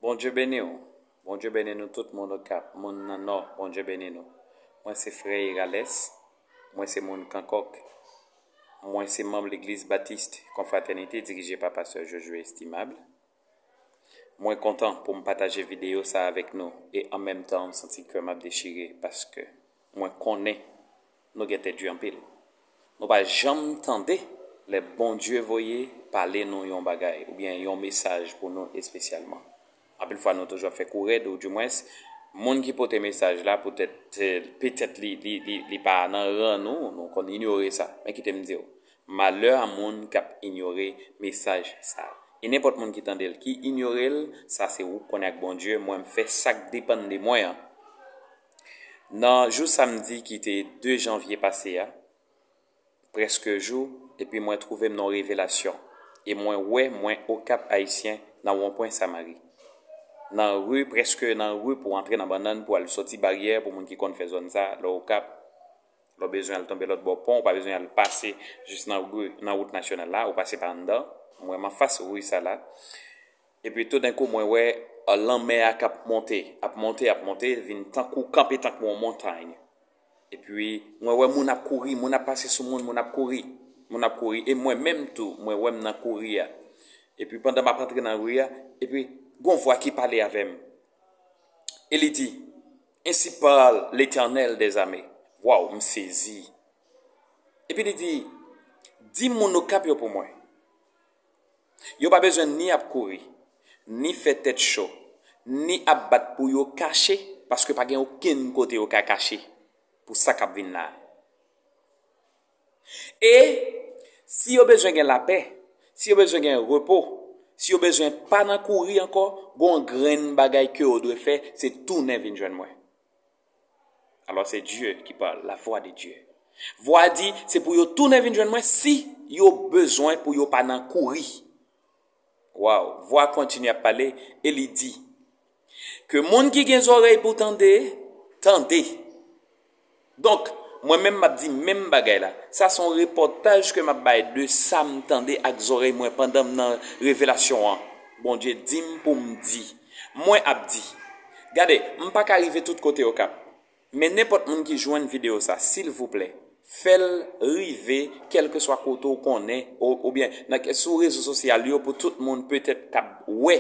Bondye beni w. Bondye beni nou tout moun okap moun nan nò bondye beni nou mwen se frè irales mwen se moun kankòk mwen se manb legliz batiste konfratènite dirije pa pastè josué estimable mwen kontan poum pataje video sa avèk nou e an menm tan m santi kèm ap dechire paske mwen konnen nou gen tèt du anpil nou pa janm tande lè Bondye voye pale nou yon bagay oubyen yon mesaj pou nou espesyalman anpil fwa nou toujou ap fè kou rèd ou du mwens moun ki pote mesaj la poutèt petèt li li li li pa nan ran nou nou konn inyore sa men kite m di w malè a moun kap inyore mesaj sa e nenpòt moun ki tande l ki inyore l sa se ou k konnen ak Bondye mwen m fè sak depann de mwen an. Nan jou samdi ki te 2 janvye pase a, prèske jou, epi mwen twouve m nan yon revelasyon, e mwen wè mwen Okap Ayisyen nan wonpwen Samari. Nan ri, prèske nan ri pou antre nan Bannann pou al sòti Baryè pou moun ki konn fè zòn sa, lè w Okap, lè w bezwen al tonbe lòtbò pon, ou pa bezwen al pase jis nan ri, nan wout nasyonal la, ou pase pa anndan, mwen m anfas ri sa la, Epi toudenkou mwen wè lanmè a k ap monte, ap monte, ap monte, vin tankou, kanpe tankou yon montany. Epi mwen wè moun ap kouri, moun ap pase sou moun, moun ap kouri, moun ap kouri. E mwen menm tou, mwen wè m nan kouri a. Epi pandan m ap antre nan ri a, epi gen yon vwa ki pale avè m, e li di, Ensi pale Letènèl dèzame. Waww, m sezi. Epi li di, Di moun Okap yo pou mwen. Yo pa bezwen ni ap kouri, ni fè tèt cho, ni ap bat pou yo kache paske pa gen okenn kote yo ka kache pou sa k ap vin la a. E, si yo bezwen gen lapè, si yo bezwen gen repo, si yo bezwen pa nan kouri ankò, gen yon grenn bagay ke yo dwe fè, se tounen vin jwenn mwen. Alò se Dye ki pale, la vwa de Dye. Vwa a di, se pou yo tounen vin jwenn mwen si yo bezwen pou yo pa nan kouri. Waw, vwa kontinye ap pale e li di, ke moun ki gen zòrèy pou tande, tande. Donk, mwen menm map di menm bagay la, sa son repòtaj ke map bay de sa m tande ak zòrèy mwen pandan m nan revelasyon an, Bondye di m pou m di. Mwen ap di. Gade, m pa ka rive tout kote Okap. Men nenpòt moun ki jwenn videyo sa, silvouplè, fè l rive kèlkeswa kote ou konnen o, oubyen nan ke, sou rezo sosyal yo pou tout moun petèt k ap wè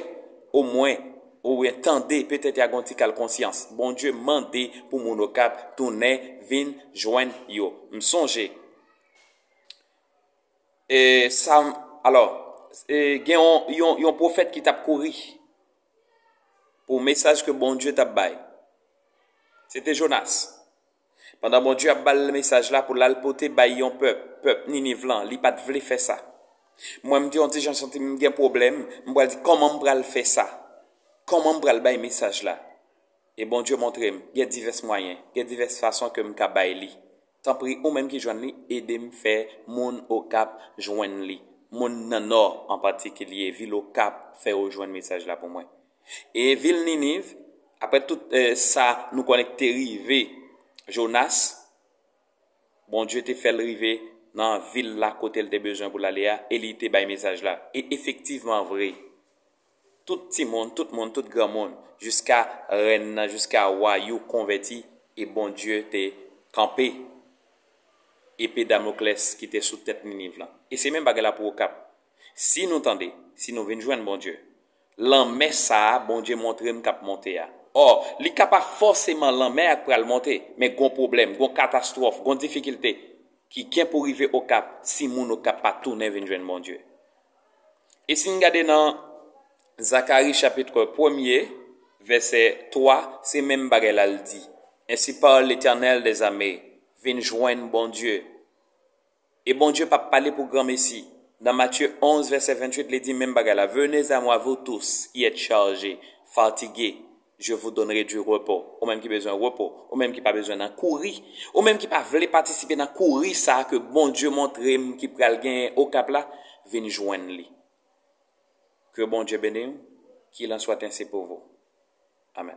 omwen, oubyen tande, petèt ya gon ti kal konsyans. Bondye mande pou moun Okap tounen vin jwenn yo. M sonje. E sa, alò, e gen yon, yon, yon pwofèt ki tap kouri pou mesaj ke Bondye tap bay. Se te Jonas. Pandan Bondye ap bal mesaj la pou lal pote bay yon pèp, pèp Niniv lan, li pat vle fè sa. Mwen m te yon ti jan santi m gen pwoblèm, m pral di kòman m pral fè sa? Kòman m pral bay mesaj la? E Bondye montre m gen divès mwayen, gen divès fason ke m ka bay li. Tanpri ou menm ki jwenn li ede m fè moun Okap jwenn li, moun nan Nò an patikilye vil Okap fè yo jwenn mesaj la pou mwen. E vil Niniv, aprè tout sa nou konnen k te rive Jonas, Bondye te fè l rive nan vil la kote l te bezwen pou l ale a e li te bay mesaj la. E efektivman vre, Tout timoun, tout moun, tout granmoun, jiska rèn nan, jiska wa you konvèti e Bondye te kanpe epe Damoklès ki te sou tèt Niniv lan. E se menm bagay la pou Okap. Si nou tande, si nou vin jwenn Bondye, lanmè sa a Bondye montre m k ap monte a, ò, li ka pa fòseman lanmè a k pral monte, men gon pwoblèm, gon katastwòf, gon difikilte ki gen pou rive Okap si moun Okap pa tounen vin jwenn Bondye. E si n gade nan Zakari chapitre premye, vèsè 3, se menm bagay la l di, Ensi parle Letènèl dè zame, vin jwenn Bondye. E Bondye pa p pale pou granmesi. Nan Matye 11, vèsè 28, li di menm bagay la, Venez a mwa, vou tous ki èt chaje, fatige. Je vous donnerai du repos, ou menm ki bezwen repo, ou menm ki pa bezwen nan kouri, ou menm ki pa vle patisipe nan kouri sa ke Bondye montre m ki pral genyen Okap la, vin jwenn li. Ke Bondye beni w, Qu'il en soit ainsi pour vous. Amen.